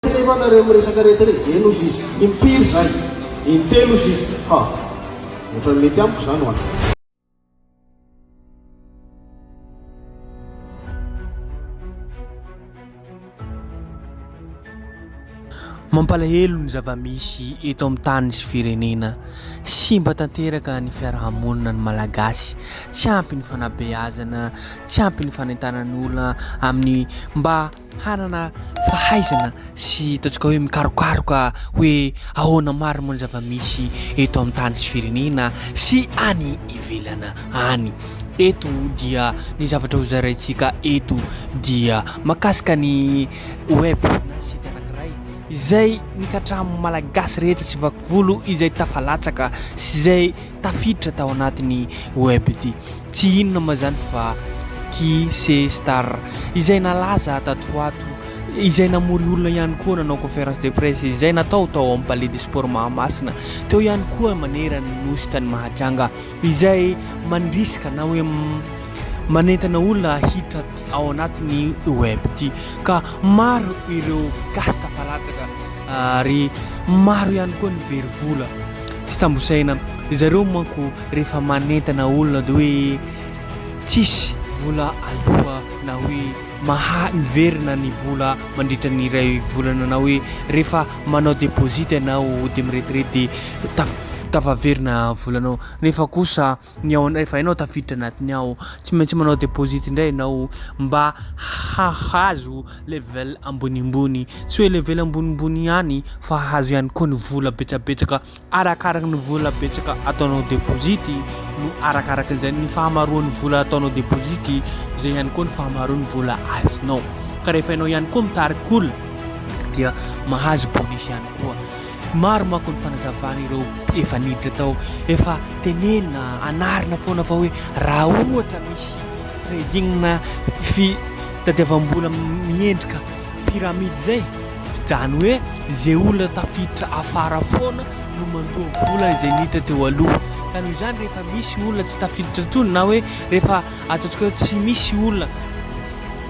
Telo va nareo miresaka reto re? Eny ozy izy. Impiry zay? Intelo ozy izy. Ha! Otrany mety amiko zany wa. Mampalahelo ny zava-misy eto amin'ny tany sy firenena. Simba tanteraka ny fiaraha-monina ny Malagasy. Tsy ampy ny fanabeazana, tsy ampy ny fanentanana ny olona amin'ny mba hanana fahaizana sy ataontsika hoe mikarokaroka hoe ahoana marina moa ny zava-misy eto amin'ny tany sy firenena sy any ivelana any. Eto dia ny zavatra hozaraintsika eto dia makasika ny web na site anankiray izay ny katram malagasy rehetra sy vakivolo izay tafalatsaka sy izay tafiditra tao anatin'ny web ity. Tsy inona moa izany fa Kise Star izay nalaza tato ho ato, izay namory olona ihany koa nanao conférence de presse, izay natao tao amin'ny Palais des Sports Mahamasina, teo ihany koa manerana ny nosy tany Mahajanga, izay mandrisika na hoe manentana olona hiditra ao anatin'ny web ity ka maro ireo gasy tafalatsaka ary maro ihany koa ny very vola. Tsy tambosaina. Ry zareo manko rehefa manentana olona dia hoe tsisy vola aloa na hoe maha miverina ny vola mandritra ny iray volana na hoe rehefa manao deposit ianao dia miretirety dia taf- tafaverina volanao nefa kosa ny ao anao efa hainao tafiditra anatiny ao tsy maintsy manao deposit indray ianao mba hahazo level ambonimbony tsy hoe level ambonimbony ihany fa hahazo ihany koa ny vola betsabetsaka arakaraka ny vola betsaka ataonao deposit no arakaraka izay ny fahamaroan'ny vola ataonao deposit izay ihany koa ny fahamaroan'ny vola azonao ka rehefa ianao ihany koa mitarik'olona dia mahazo bonus ihany koa Maro manko ny fanazavana ireo efa niditra tao, efa tenenina, anarina foana fa hoe raha ohatra misy trading na fitadiavam-bola miendrika pyramide izay, izany hoe izay olona tafiditra afara foana no mandoa vola izay niditra teo aloha. Ka noho izany rehefa misy olona tsy tafiditra intsony na hoe rehefa Atsatoka eo tsy misy olona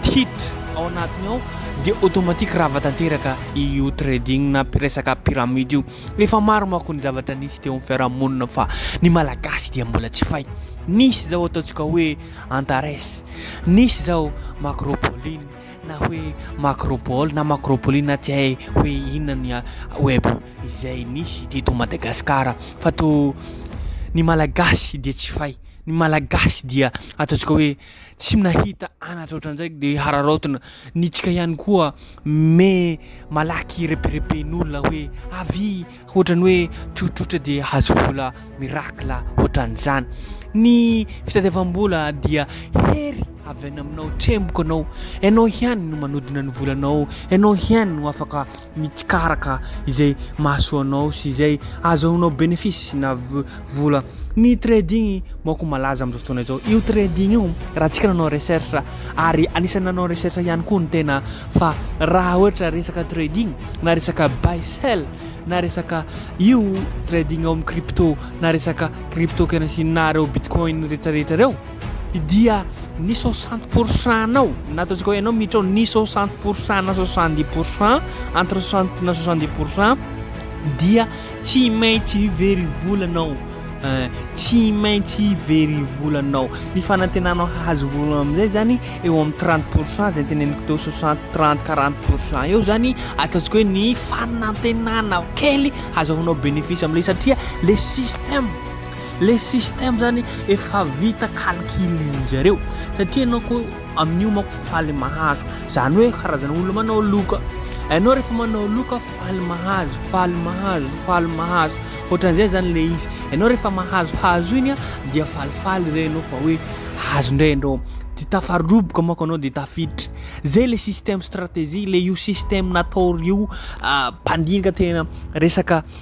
titra ao anatiny ao dia automatique rava tanteraka io trading na resaka pyramide io. Efa maro manko ny zavatra nisy teo amin'ny fiarahamonina fa ny malagasy dia mbola tsy fay. Nisy izao ataontsika hoe Antares, nisy izao Macropoline na hoe Macropole na Macropoline na tsy hay hoe inona ny web izay nisy teto Madagasikara fa to ny malagasy dia tsy fay. ny malagasy dia ataontsika hoe tsy nahita anatra ohatran'izay de hararaotina nitsika ihany koa me malaky reperepen'olona hoe avy ohatran'ny hoe trotrotra de hazo vola miracle ohatran'izany ny fitadiavam-bola dia hery avy any aminao tremboka anao ianao ihany no manodina ny volanao ianao ihany no afaka mikaraka izay mahasoa anao sy izay azahoanao bénéfice na vola. Ny trading manko malaza amin'izao fotoana izao. Io trading io raha tsika nanao recherche ary anisan'ny nanao recherche ihany koa ny tena fa raha ohatra resaka trading na resaka buy sell na resaka io trading ao amin'ny crypto na resaka crypto kena sy nareo bitcoin retraretra reo dia ny soixante pour cent nao na ataontsika hoe ianao miditra ao ny soixante pour cent na soixante dix pour cent entre soixante na soixante dix pour cent dia tsy maintsy very volanao eh, tsy maintsy very volanao ny fanantenanao hahazo vola amin'izay zany eo amin'ny trente pour cent zay teneniko teo soixante trente quarante pour cent eo zany ataontsika hoe ny fanantenana kely hazahoanao bénéfice amin'ilay satria le système Le système zany efa vita calcul-ndry zareo satria ianao ko amin'io manko faly mahazo, zany hoe karazana olona manao loka, ianao rehefa manao loka faly mahazo, faly mahazo, faly mahazo, ohatran'izay zany le izy, ianao rehefa mahazohazo iny a dia falifaly zay ianao fa hoe hazo ndray ianao, de tafaroboka manko ianao de tafiditra, zay le système stratégie, le io système nataon'io mpandinika tena resaka.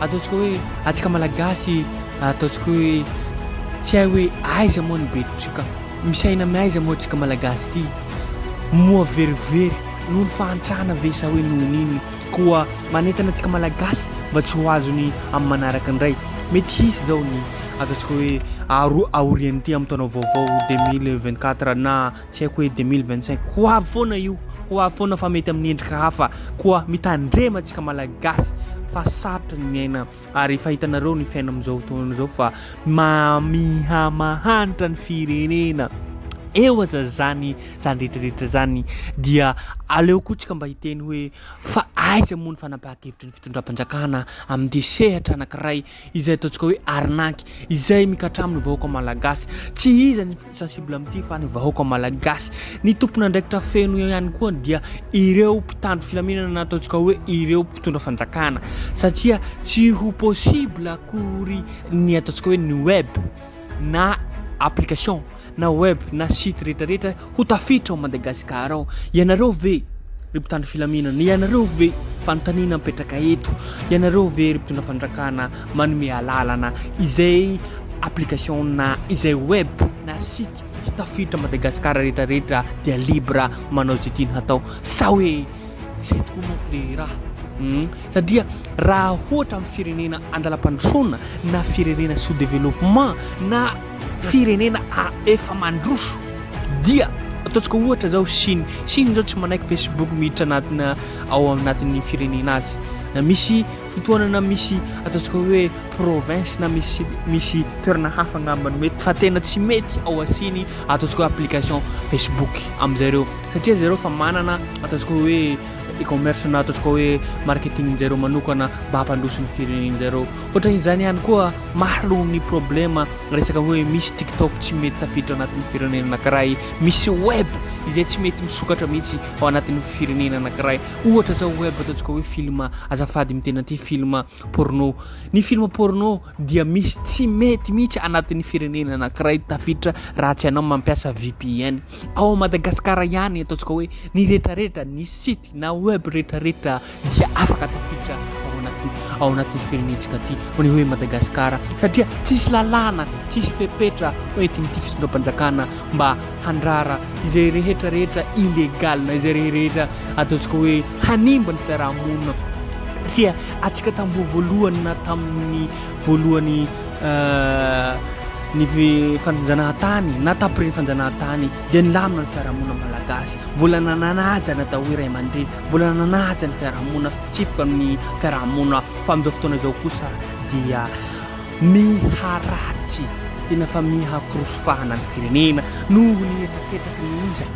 Ataontsika hoe atsika malagasy ataontsika hoe tsy hay hoe aiza moa ny bedotrika, misy aina amin'ny aiza moa tsika malagasy ity, moa verivery noho ny fahantrana ve sa hoe noho ny inona, koa manentana antsika malagasy mba tsy ho azony amin'ny manaraka indray, mety hisy izao ny ataontsika hoe aorian'ity amin'ny taona vaovao deux mille vingt quatre na Tsy haiko hoe deux mille vingt cinq ho avy foana io, ho avy foana fa mety amin'ny endrika hafa, koa mitandrema antsika Malagasy fa sarotra ny miaina ary efa hitanareo ny fiaina amin'izao fotoana izao fa mamiha mahantra ny firenena, eo aza zany zany retraretra zany dia aleo koa tsika mba hiteny hoe fa aiza moa ny fanapahan-kevitry ny fitondram-panjakana amin'ity sehatra anankiray izay ataontsika hoe arnaque izay mikatra amin'ny vahoaka malagasy. Tsy iza ny sensible amin'ity fa ny vahoaka malagasy. Ny tompon'andraikitra feno ihany koa dia ireo mpitandro filaminana na ataontsika hoe ireo mpitondra fanjakana satria tsy ho possible akory ny ataontsika hoe ny web na application na web na site retraretra ho tafiditra ao Madagascar ao. Ianareo ve ry mpitandro filaminana, ianareo ve fanontaniana mipetraka eto, ianareo ve ry mpitondra fandrakana manome alalana izay application na izay web na site hitafiditra Madagascar retraretra dia libre manao izay tiany hatao sa hoe izay tokoa manko le raha hmm? satria raha hoatra amin'ny firenena andalam-pandrosoana na firenena sous développement na Firenena a efa mandroso dia ataontsika ohatra zao Chine. Chine zao tsy manaiky Facebook miditra anatina ao anatin'ny firenena azy. Misy fotoanana misy ataontsika hoe province na misy misy toerana hafa angambany mety fa tena tsy mety ao Chine ataontsika hoe application Facebook amin'izareo satria zareo fa manana ataontsika hoe e-commerce na ataontsika hoe marketing njareo manokana mba hampandroso ny firenen'jareo. Hoatran'izany ihany koa, maro ny problema resaka hoe misy TikTok tsy mety tafiditra anatin'ny firenena anankiray, misy web izay tsy mety misokatra mihitsy ao anatin'ny firenena anankiray. Ohatra izao web ataontsika hoe film, azafady miteny an'ity, film porno. Ny film porno dia misy tsy mety mihitsy anatin'ny firenena anankiray tafiditra raha tsy ianao mampiasa VPN. Ao Madagasikara ihany ataontsika hoe ny rehetrarehetra ny site na web retraretra dia afaka tafiditra ao anaty ao anaty firenentsika aty maneo hoe Madagasikara satria tsisy lalàna tsisy fepetra entin'ity fisondram-panjakana mba handrara izay rehetra rehetra illégal na izay rehetra ataontsika hoe hanimba ny fiarahamonina satria atsika tamboho voalohany na tamin'ny voalohany euh, ny fanjanahan-tany na tapiren'ny fanjanahan-tany dia nilamina ny fiarahamonina malagasy, mbola nananaja ny atao hoe ray aman-dreny, mbola nananaja ny fiarahamonina fitsipika ny fiarahamonina fa amin'izao fotoana izao kosa dia miharatsy tena fa miha-korosy fahana ny firenena noho ny hetraketraky ny iza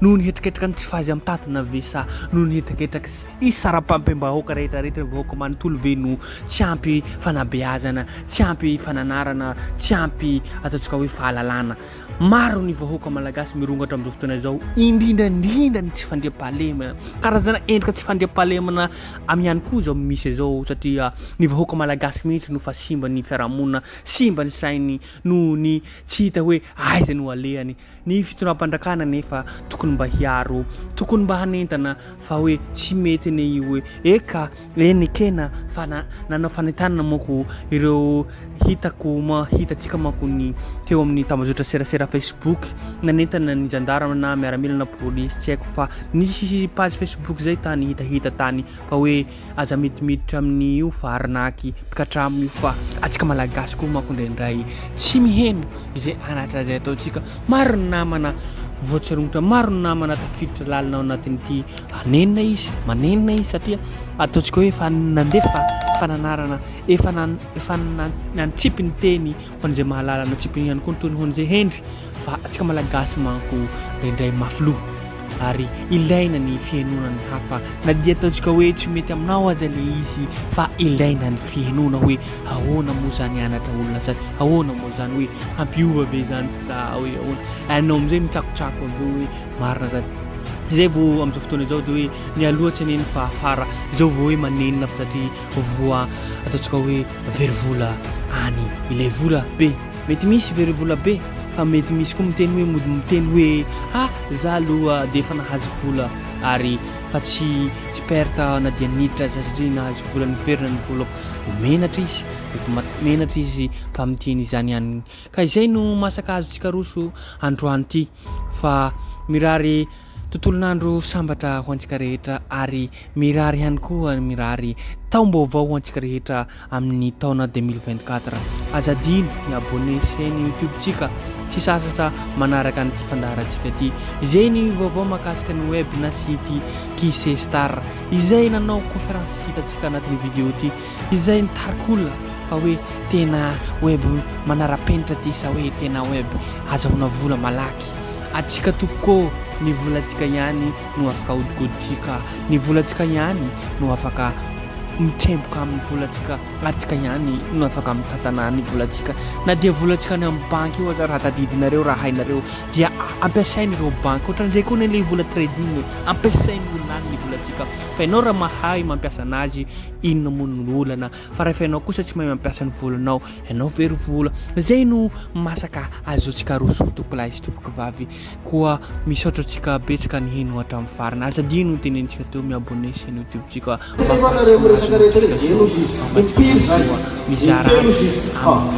noho ny hetraketraky ny tsy fahaizay mitantana ve sa noho ny hetraketraky isaram-pampem-bahoaka rehetra rehetra ny vahoaka manontolo ve no tsy ampy fanabeazana tsy ampy fananarana tsy ampy ataontsika hoe fahalalana Maro ny vahoaka malagasy mirongatra amin'izao fotoana izao, indrindra indrindra ny tsy fandriampahalemana. Karazana endrika tsy fandriampahalemana am ihany koa izao misy izao satria ny vahoaka malagasy mihitsy no fa simba ny fiarahamonina, simba ny sainy noho ny tsy hita hoe aiza no alehany. Ny fitondram-pandrakana anefa tokony mba hiaro, tokony mba hanentana fa hoe tsy mety anie io hoe eka Eny ekena fa na nanao fanentanana manko ireo hitako ma hitantsika manko ny teo amin'ny tambajotra serasera facebook nanentana ny zandary na miaramila na polisy tsy haiko fa nisy page facebook zay tany hitahita tany fa hoe aza midimiditra amin'io fa arnaky mpikatramo io fa atsika malagasy koa manko indraindray tsy miheno izay anatra izay ataontsika maro ny namana voatsirongotra maro ny namana tafiditra lalina ao anatin'ity Manenina izy, manenina izy satria ataontsika hoe efa nandefa fananarana, efa nan, efa nan, nantsipy ny teny ho an'izay mahalala, nantsipy ihany koa ny tony ho an'izay hendry fa antsika malagasy manko indraindray mafy loha ary ilaina ny fihenoana ny hafa na dia ataontsika hoe tsy mety aminao aza le izy fa ilaina ny fihenoana hoe ahoana moa zany anatra olona zany ahoana moa zany hoe hampiova ve zany sa hoe ahoana anao am'izay mitsakotsako avy eo hoe Marina zany. Tsy zay vo amzao fotoana izao de hoe mialoha tsy anenina fa afara izao vo hoe manenina fa satria voa ataontsika hoe very vola any ilay vola be. Mety misy very vola be fa mety misy koa miteny hoe mody miteny hoe ha za aloha de efa nahazo vola ary fa tsy tsy perte na dia niditra aza satria nahazo vola niverina ny volako. Menatra izy mety ma- menatra izy fa miteny izany ihany. Ka izay no masaka azo tsikaroso androany ity. fa mirary tontolon'andro sambatra ho antsika rehetra ary mirary ihany koa mirary taom-baovao ho antsika rehetra amin'ny taona 2024. Aza adino ny abonné chaîne YouTube-tsika sy sasatra manaraka an'ity fandaharantsika ity. Izay ny vaovao makasika ny web na site Kise Star. Izay nanao conférence hitantsika anatin'ny vidéo ity Izay nitarika olona fa hoe tena web manara-penitra ty sa hoe tena web azahoana vola malaky? Antsika tompoko ô! Ny volantsika ihany no afaka ahodikodintsika, ny volantsika ihany no afaka mitremboka amin'ny volantsika ary tsika ihany no afaka mitantana ny volantsika. Na dia volantsika any amin'ny banky io aza raha tadidinareo, raha hainareo dia ampiasainy ireo banky. Ohatran'izay koa anie ilay vola trading e! Ampiasain'ny olona any ny volantsika fa ianao raha mahay mampiasa anazy, Inona moa no olana fa rehefa ianao kosa tsy mahay mampiasa ny volanao, ianao very vola. Izay no masaka azontsika aroso tompoko lahy sy tompoko vavy. Koa misaotra antsika betsaka niheno hatramin'ny farany. Aza adino ny tenenintsika teo, mi-abonner sy ny YouTube-tsika mba hahafahantsika mahazo notification sy ny fiainantsika koa mizara amin'ny